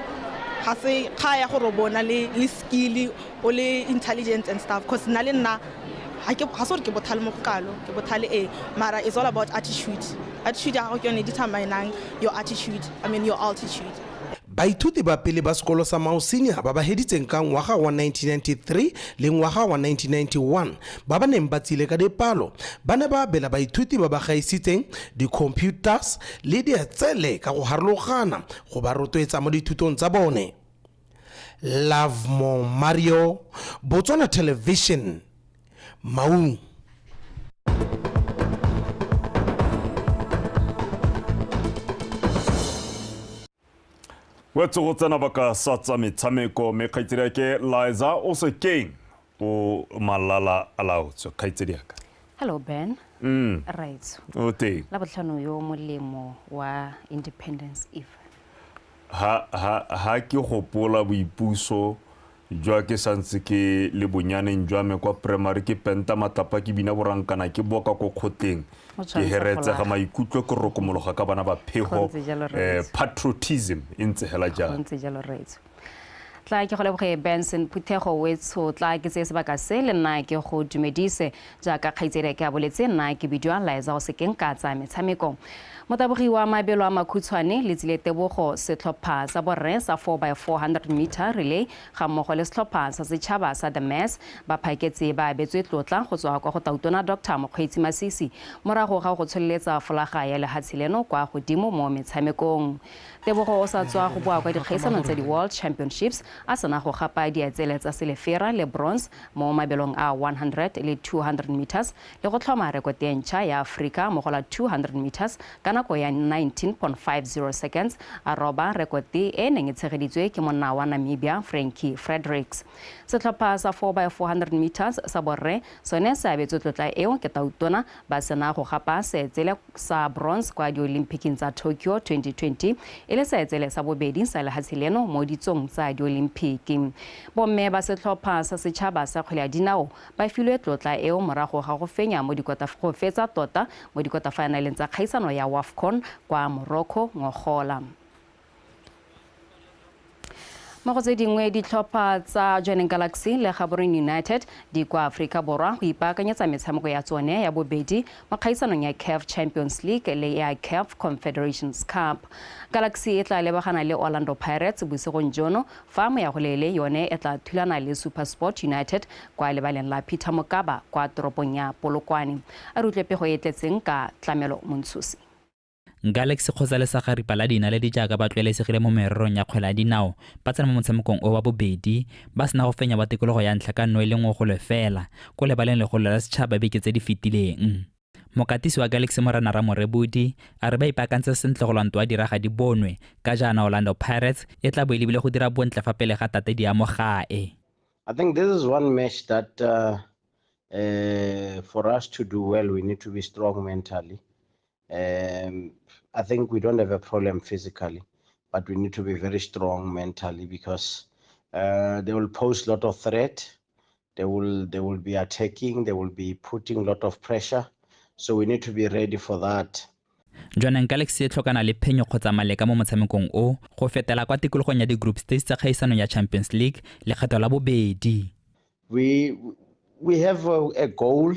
[SPEAKER 5] ga se kga ya gore o bona le le skilly o le intelligent and stuff because nna le nna ga ke ga se gore ke bothale mo go kalo ke bothale ee mara it's all about attitude attitude ya gago ke yone e determinang your attitude i mean your altitude Baithuti ba
[SPEAKER 12] pele ba sekolo sa Mao Senior ba ba heditseng ka ngwaga wa 1993 le ngwaga wa 1991 ba ba neng ba tsile ka dipalo ba ne ba abela baithuti ba ba gaisitseng di-computers le dietsele ka go harologana go ba rotloetsa mo dithutong tsa bone. Lovemore Mario, Botswana Television, maungo
[SPEAKER 1] wetse go tsena baka sa tsa metshameko mme kgaitsedi yake liza o se keng o malala a laotswe kgaitsedi yaka hello ben
[SPEAKER 22] mm. right o teng la
[SPEAKER 1] botlhano yo
[SPEAKER 22] molemo wa independence eve ha ha ha
[SPEAKER 1] ke gopola boipuso Jwa ke sa ntse ke le bonyaneng jwa me kwa primary ke penta matlapa ke bina borankana ke boka ko kgotleng ke heretsega maikutlo ke rokomologa ka bana ba phego eh, patriotism e ntse hela jang
[SPEAKER 22] tla ke go leboge benson phuthego wetsho tla ke tseye sebaka se le nna ke go dumedise Jaaka kgaitsadiake a boletse, nna ke bidiwa Liza go sekeng ka tsaya metshameko. Motabogi wa mabelo a makhutshwane, Letsile Tebogo, setlhopha sa borre sa 4 by 400 meter relay ga mmogo le setlhopha sa setšhaba sa The Mass ba phaketse ba abetswe tlotla go tswa kwa go Tautona Doctor Mokgweetsi Masisi morago ga go tsholeletsa folaga ya lehatshe leno kwa godimo mo metshamekong Tebogo o sa tswa go boa kwa dikgaisanong tsa di-World Championships a sena go gapa diatsele tsa silefera le bronze mo mabelong a 100 le 200 metres le go tlhoma rekote e ntšha ya Aforika mo go la 200 metres ka nako ya 19.50 seconds a roba rekote e e neng e tshegeditswe ke monna wa Namibia Frankie Fredericks. Setlhopha sa 4x400 metres sa borre sone se abetswe tlotla eo ke Tautona ba sena go gapa seetsele sa bronze kwa Diolimpiking tsa Tokyo 2020 e le seetsele sa bobedi sa lehatshe leno mo ditsong tsa Diolimpiki. Bomme ba setlhopha sa setšhaba sa kgwele ya dinao ba filwe tlotla eo morago ga go fenya mo go fetsa tota mo dikotafaenaleng tsa kgaisano ya Wafcon kwa Morocco ngogola. mo go tse dingwe ditlhopha tsa joining galaxy le gaboreng united di kwa aforika borwa go ipaakanyetsa metshameko ya tsone ya bobedi mo kgaisanong ya caf champions league le ya caf confederations cup galaxy e tla lebagana le orlando pirates bosigong jono fa moyagolele yone e tla thulana le supersport united kwa lebaleng la peter mokaba kwa toropong ya polokwane a re utlwe pego e tletseng ka tlamelo montshosi Galaxy
[SPEAKER 6] kgotsa le sagaripa la dinaledi jaaka ba tlwaelesegile mo mererong ya kgwele ya dinao ba tsena mo motshamekong o wa bobedi ba sena go fenya wa tikologo ya ntlha ka nno e le nngwe go lefela ko lebaleng legolo la setšhaba beke tse di fetileng mokatisi wa galaxy morena ramorebodi a re ba ipaakantse sentle go lwanto wa diraga di bonwe ka jaana orlando pirates e tla bo e lebile go dira bontle fa pele ga tate di amo gae I think this is
[SPEAKER 15] one match that uh, uh, for us to do well, we need to be strong mentally. Um, I think we don't have a problem physically, but we need to be very strong mentally because uh, they will pose a lot of threat. They will they will be attacking. They will be putting a lot of pressure. So we need to be ready for that. jaanang
[SPEAKER 6] galaxy e tlhokana le phenyo kgotsa maleka mo motshamekong o go fetela kwa tikologong ya di-group stage tsa kgaisanong ya champions league lekgetho la bobedi we,
[SPEAKER 15] we have a, a goal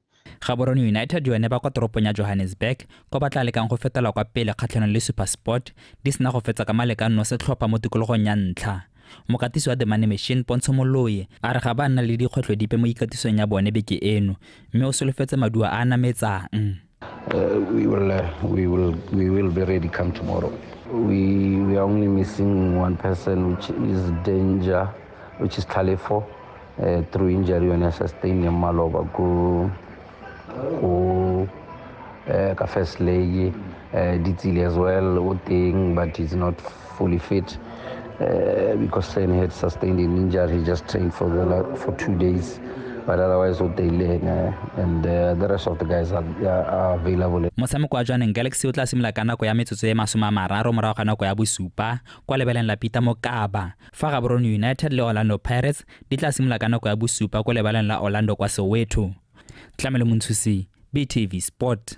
[SPEAKER 15] Gaborone United
[SPEAKER 6] yone ba kwa toropong ya Johannesburg kwa ba tla lekang go fetela kwa pele kgatlhanong le Supersport di sena go fetsa ka malekanno setlhopha mo tikologong ya ntlha. Mokatisi wa The Money Machine Pontsho Moloi a re ga ba nna le dikgwetlho dipe mo ikatisong ya bone beke eno mme o solofetse maduo a a nametsang. Uh, we
[SPEAKER 18] will uh, we will we will be ready come tomorrow. We we are only missing one person which is danger which is Talefo. eh, through injury yone a sustaineng maloba ko ko eh, ka first leg eh, ditsile as well o teng but he's not fully fit uh, because Sen had sustained an injury. He just trained for the la- for two days, but otherwise, what they learn, uh, and uh, the rest of the guys are, are, are available. motshameko wa jwaneng
[SPEAKER 6] galaxy o tla simolola ka nako ya metsotso e masome a mararo morago ga nako ya bosupa kwa lebeleng la peter mokaba Fa Gaborone United le Orlando Pirates di tla simolola ka nako ya bosupa ko lebaleng la Orlando kwa Soweto. Tlamelo Montshusi, BTV Sport.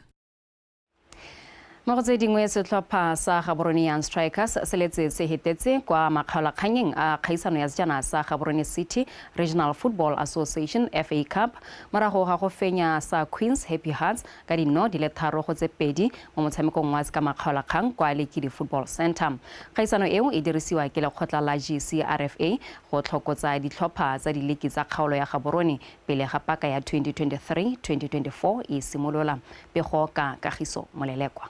[SPEAKER 22] Mo go tse dingwe setlhopha sa Gaborone Young Strikers se letse se hetetse kwa makgaolakganyeng a kgaisano ya sejana sa Gaborone City Regional Football Association FA Cup morago ga go fenya sa Queens Happy Hearts ka dino di le tharo go tse pedi mo motshamekong wa ka makgaolakgang kwa Lekidi Football Centre. Kgaisano eo e dirisiwa ke lekgotla la GCRFA go tlhokotsa ditlhopha tsa diliki tsa kgaolo ya Gaborone pele ga paka ya 2023-2024 e simolola. Pego ka Kagiso Molelekwa.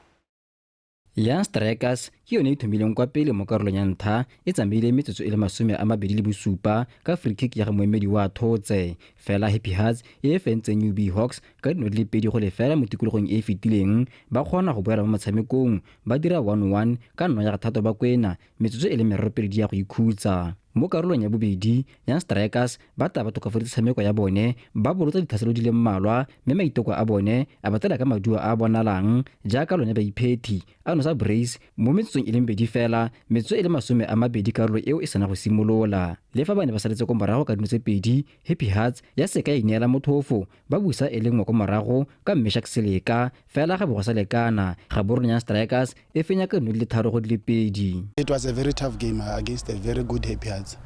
[SPEAKER 4] Young Strikers ke yone e thomileng kwa pele mo karolong ya ntlha e tsamaile metsotso e le masome a mabedi le bosupa ka free kick ya ga moemedi wa thotse fela Happy Hearts e e fentseng UB Hawks ka dino di le pedi go lefela mo tikologong e e fetileng ba kgona go boela mo motshamekong ba dira 1-1 ka nno ya ga thato ba kwena metsotso e le meropedi ya go ikhutsa. Mo karolong ya bobedi, Young Strikers ba tla ba tokafaditse tshameko ya bone, ba bolotsa ditlhaselo di le mmalwa mme maiteko a bone a ba tsela ka maduo a a bonalang jaaka lone baiphethi a nosa Brays mo metsotsong e le mebedi fela, metsotso e le masome a mabedi karolo eo e sena go simolola. Le fa ba ne ba saletse ko morago ka dino tse pedi, Happy Hearts ya seka ya ineela mothofo ba busa e le nngwe ko morago ka Meshack Seleka fela ga bo go sa lekana Gaborone Young Strikers e fenya ka dino di le tharo go di le pedi. It was a very tough
[SPEAKER 19] game uh, against a very good Happy Hearts.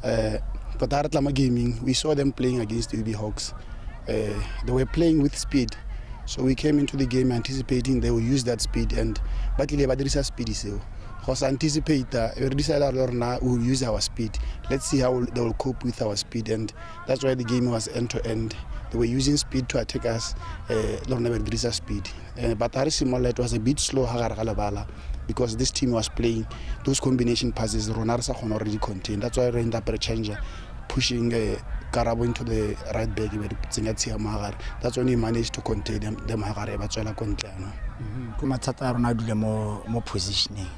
[SPEAKER 19] Uh, but ha re tla mo gaming, we saw them playing against UB Hawks. Uh, they were playing with speed. So we came into the game anticipating they will use that speed and ba tlile ba dirisa speed seo. Go sa anticipate, uh, re decide gore na we will use our speed. Let's see how they will cope with our speed and that's why the game was end to end they were using speed to attack us um le rona ba dirisa speed um but ga re simolola it was a bit slow ga gare ga lebala because this team was playing those combination passes rona re sa kgona gore di contain that's why re end up re change pushing uh, karabo into the right back be tsenya tshia mo gare that's when he managed to contain them, them gare ba tswela ko ntle ano mm-hmm. ke
[SPEAKER 20] mathata a rona a dule mo mo positioning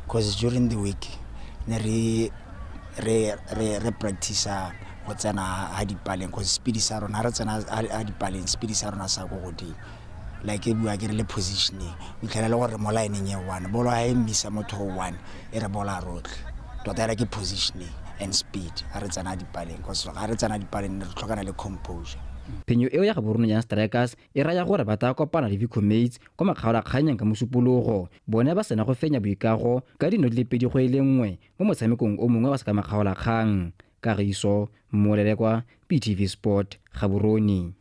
[SPEAKER 20] because during the week ne re re re re practice go tsena ha dipaleng go speed sa rona re tsena ha dipaleng speed sa rona sa go godimo like e bua ke re le positioning o itlhela le gore mo line e one bolo ha e mmisa motho o one e re bola rotlhe tota era ke positioning and speed ha re tsena dipaleng because ga re tsena dipaleng re tlhokana le composure phenyo eo ya
[SPEAKER 4] gaborone ya strikers e raya gore ba tla kopana le vicomates kwa makgaolakganyeng ka mosupologo bone ba sena go fenya boikago ka dino di le pedi go e le nngwe mo motshamekong o mongwe wa sekamakgaolakgang kagiso mmolelekwa ptv sport gaborone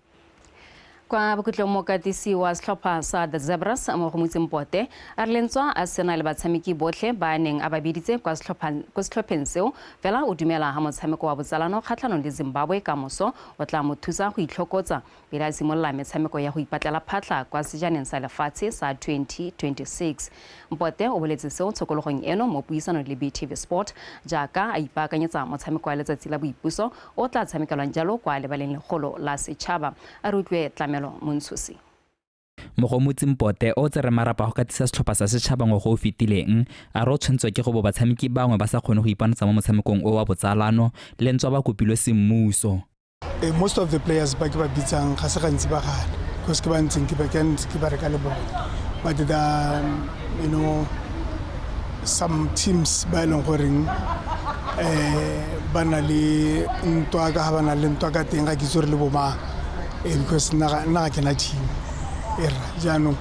[SPEAKER 22] kwa bokhutlong mokatisi wa setlhopha sa the zebras mo go motseng pote a re lentswa a sena le batshameki botlhe ba a neng a ba biditse kwa setlhopheng seo fela o dumela ga motshameko wa botsalano kgatlhanong le zimbabwe ka moso o tla mo thusa go itlhokotsa pele a simolola metshameko ya go ipatlela phatlha kwa Sejaneng sa Lefatshe sa 2026. Mpote o boletse seo tshokologong eno mo puisanong le BTV Sport jaaka a ipaakanyetsa motshameko wa letsatsi la boipuso o tla tshamekelwang jalo kwa lebaleng legolo la setšhaba. A re utlwe Tlamelo Montshusi.
[SPEAKER 6] Mogomotsi Mpote o tsere marapa go katisa setlhopha sa setšhaba ngwago o fetileng a re o tshwantswa ke go bo batshameki bangwe ba sa kgone go ipanatsa mo motshamekong o wa botsalano le ntswa ba kopilwe semmuso. Eh, most of
[SPEAKER 19] the players ba ke ba bitsang ga se gantsi ba gale because ke ba ntseng ke ba ke ntse ke ba reka le bone but the um, you know some teams ba e leng goreng um ba na le ntwa ka ga ba na le ntwa ka teng ga ke itse gore le bomang ee because nna ga ke na team era jaanong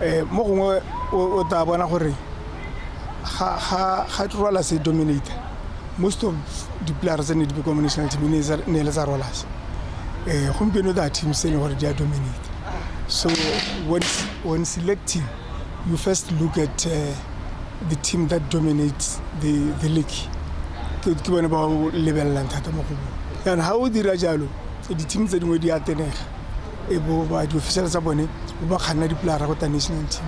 [SPEAKER 19] um mo gongwe o tla bona gore ga trola se dominate most of di-player tse ne di be ko mo national team ne e le tsa rolas um gompieno tsa team se e leng gore di a dominate so when, when selecting you first look at uh, the team that dominates the, the league ke bone ba lebelelang thata mo go bone jaanong ga o dira jalo So di-team tse dingwe di a tenega e bo ba di-official tsa bone bo ba kganna dipolara go tla national team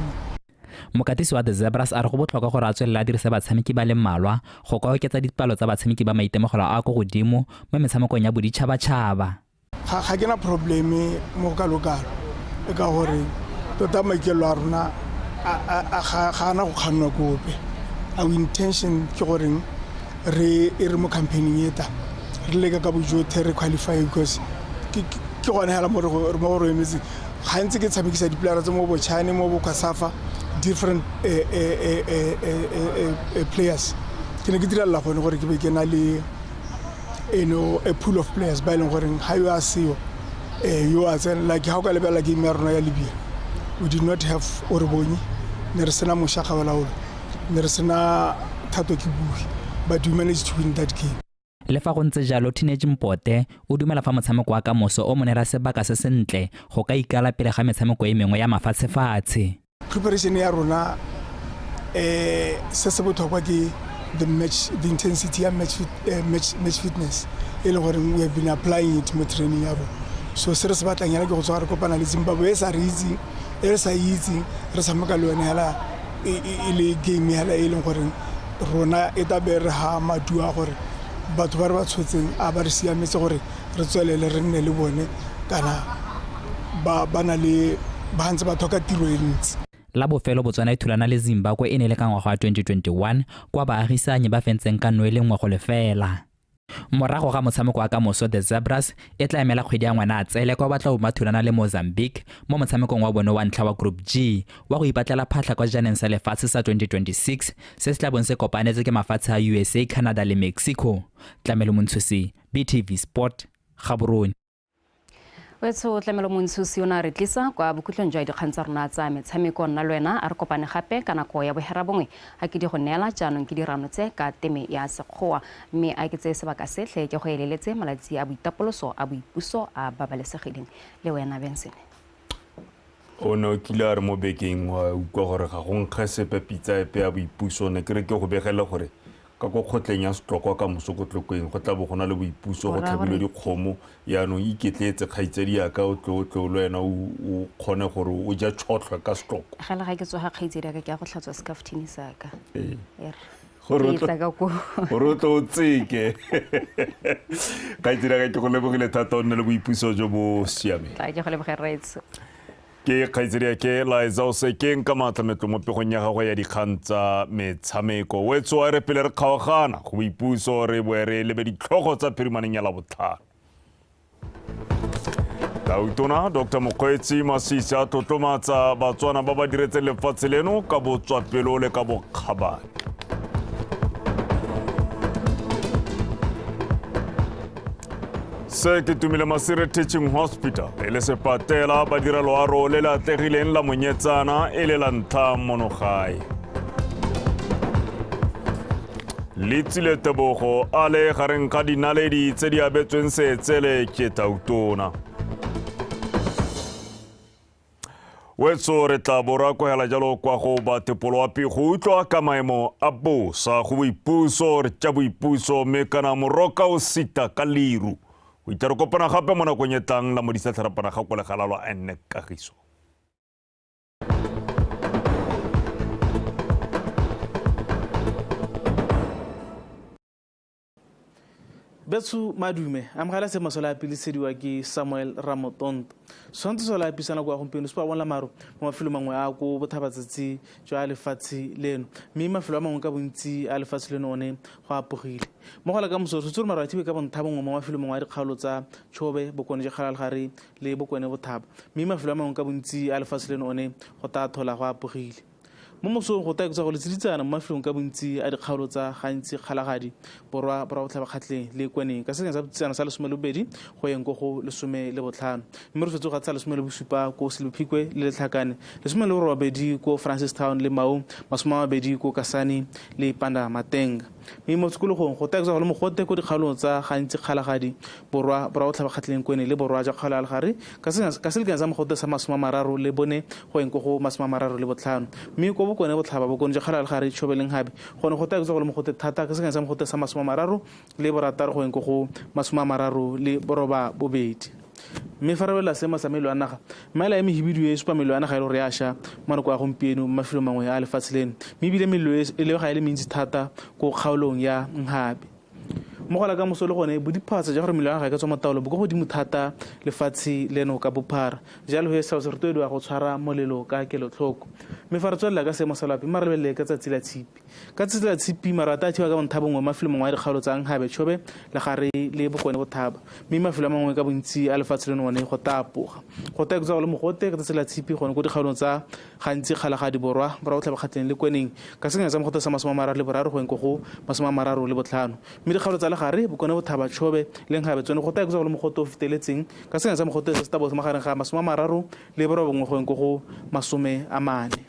[SPEAKER 19] mokatisi
[SPEAKER 6] wa the zebras a re go botlhokwa gore a tswelele a dirise batshameki ba le mmalwa go ka oketsa dipalo tsa batshameki ba maitemogelo a ko godimo mo metshamekong ya boditšhabatšhaba ga ke na
[SPEAKER 19] probleme mo go kalokalo e ka gore tota maikelelo a rona ga ana go kgannwa kope our intention ke goreng re e re mo campaigning e ta re leka ka bojothe re qualify because ke gone hela mo go re emetseng gantsi ke tshamekisa dipolara tse mo bochane mo bokwasafa different eh, eh, eh, players ke ne ke direla gone gore ke be ke na le eno a pool of players ba e leng goreng ga yo a seo um yo a tsena like ga o ka lebelela game ya rona ya libia we did not have orebonye ne re sena mošagabalaolo ne re sena thato ke bue but we managed to win that game le fa go ntse jalo
[SPEAKER 6] teenage mpote o dumela fa motshameko wa kamoso o monera sebaka se sentle go ka ikala pele ga metshameko e mengwe ya mafatshefatshe preparation ya
[SPEAKER 19] rona eh se se botlhokwa ke the match the intensity ya match, uh, match, match fitness e le gore we have been applying it mo training ya bo so se re se batlang yana ke go tswa re kopana le zimbabwe e sa re itseng e re sa itseng re tshameka le yone hela e le game hela e leng gore rona e tla be re ha maduo a gore batho ba re ba tshotseng a ba re siametse gore re tswelele re nne le bone kana ba na le ba ntse ba tlhoka tiro e ntsi la bofelo botswana
[SPEAKER 6] e thulana le zimbabwe e ne e le ka ngwaga wa 2021 kwa baagisanyi ba fentseng ka noe le nngwe go lefela Morago ga motshameko wa kamoso The Zebras e tla emela kgwedi ya Ngwanatsele kwa ba tla bo ba thulana le Mozambique mo motshamekong wa bone wa ntlha wa Group G wa go ipatlela phatlha kwa sejaneng sa lefatshe sa 2026 se se tla bong se kopanetse ke mafatshe a usa, Canada le Mexico. Tlamelo Montshosi, BTV Sport, Gaborone.
[SPEAKER 22] wetsho o tlamelo montshosi o ne a re tlisa kwa bokhutlong jwa dikgang tsa rona tsa metshameko nna le wena a re kopane gape ka nako ya bohera bongwe a ke di go neela jaanong ke dirano tse ka teme ya sekgowa mme a ke tseye sebaka setlhe ke go eleletse malatsi a boitapoloso a boipuso a babalesegileng le wena benson
[SPEAKER 1] o ne o kile a re mo bekeng wa utlwa gore ga go nkge sepe pitsa epe ya boipuso ne ke re ke go begele gore Ka kwa kgotleng ya Setlokwa ka moso ko Tlokweng go tla bo go na le boipuso, go tlhabilwe dikgomo. Yaanong iketletse kgaitsadiaka o tle o tle o le wena o kgone gore o ja tšhotlhwa ka Setlokwa. Gale ga ke tswa ga kgaitsadiaka
[SPEAKER 22] ke ya go tlhatswa sekafuthini sa ka. E re.
[SPEAKER 1] Gore o tle o tseke. Kgaitsadiaka ke go lebogile thata o nne le boipuso jo bo siameng. Ke go lebogela rraetsho.
[SPEAKER 22] Ke
[SPEAKER 1] kgaitsedi ke Liza o se ke nka maatla metlo mo pegong ya gagwe ya dikgang tsa metshameko. Wetso a re pele re kgaogana go boipuso re boe re lebe ditlhogo tsa phirimaneng ya labotlhano. Tautona Dr Mokgweetsi Masisi a tlotlomatsa Batswana ba ba diretseng lefatshe leno ka botswapelo le ka bokgabane. se ke tumile masire teaching hospital e le sepatela badira loaro le le atlegileng la monyetsana e le la ntlha mono gae le tsile tebogo a le gareng ga dinaledi tse di abetsweng seetsele ke tautona wetso re tla bo ra kwagela jalo kwa go batepoloapi go utlwa ka maemo a bosa go boipuso re tša boipuso mme kana moroka o sita ka leru go itla re kopana gape mo nakong e tlang la modisa tlharapana ga kwa legala lwa enne kagiso
[SPEAKER 2] betsu madume amogela se masola a pilisediwa ke samuel ramotonto tshwanetse sola apisa nako ya gompieno supa bonla maro mo mafelo mangwe a ko bothabatsatsi jwa lefatshe leno mme mafelo a mangwe ka bontsi a lefatshe leno one go apogile mo gola ka moso tshwetse gore maro a thibe ka bontha bongwe mo mafelo mangwe a dikgaolo tsa tshobe bokone ja kgalalgare le bokone bothaba mme mafelo a mangwe ka bontsi a lefatshe leno one go tathola go apogile Mo mosong go taekotsa go letseditsana mo mafelong ka bontsi a dikgaolo tsa gantsi kgalagadi, borwa, borwa botlhabakgatleng le kweneng ka senyeng sa botsitsana sa lesome le bobedi go yeng ko go lesome le botlhano. Mme re swetse go gatsisa lesome le bosupa ko Selebephikwe le Letlhakane, lesome le borobabedi ko Francistown le Maung, masome a mabedi ko Kasane le Panda Mateng. Mme mo tikologong go taekiswa go le mogote ko dikgaolong tsa gantsi Kgalagadi, Borwa, Borwa Botlhabakgatlheng, Kwene le Borwa jwa Kgaolo ya Legare ka senya ka selekano sa mogote sa masome a mararo le bone go eng ko go masome a mararo le botlhano. Mme ko Bokone Botlhaba, Bokone jwa Kgaolo ya Legare, Tshobe le Nghabe go ne go taekiswa go le mogote thata ka selekano sa mogote sa masome a mararo le borataro go eng ko go masome a mararo le borobabobedi. Mme fa re lebelela seemo sa melo a naga, maela e mehibidu e e supa melo a naga e le gore ya sha mo nako ya gompieno mo mafelong mangwe a lefatshe leno, mme e bile melo e lebega e le mentsi thata ko kgaolong ya Mhabe. Mo go la kamoso le gone, bodiphatsa jwa gore melo ya naga e ka tswa mo taolo bo kwa godimo thata lefatshe leno ka bophara. Jalo he, setshaba se rotloediwa go tshwara molelo ka kelotlhoko. Mme fa re tswelela ka seemo sa loapi, mma re lebelele ka tsatsi la Tshipi. Ka tsatsi la Tshipi, maru a tathiwa ka bontha bongwe mo mafelong mangwe a dikgaolo tsa Nkhabe, Chobe, Legare le Bokone Bothaba, mme mafelo a mangwe ka bontsi a lefatshe leno one go tapoga. Go taya kutsa go le mogote ka tsatsi la Tshipi gone ko dikgaolong tsa gantsi Kgalagadi Borwa, Borwa Botlhaba Kgatleng le Kweneng ka senyana sa mogote sa masome a mararo le boraro go eng ko go masome a mararo le botlhano. Mme dikgaolo tsa Legare, Bokone Bothaba, Chobe le Nkhabe tsone go taya kutsa go le mogote o feteletseng ka senyana sa mogote se se taboge magareng ga masome a mararo le borobongwe go eng ko go masome a mane.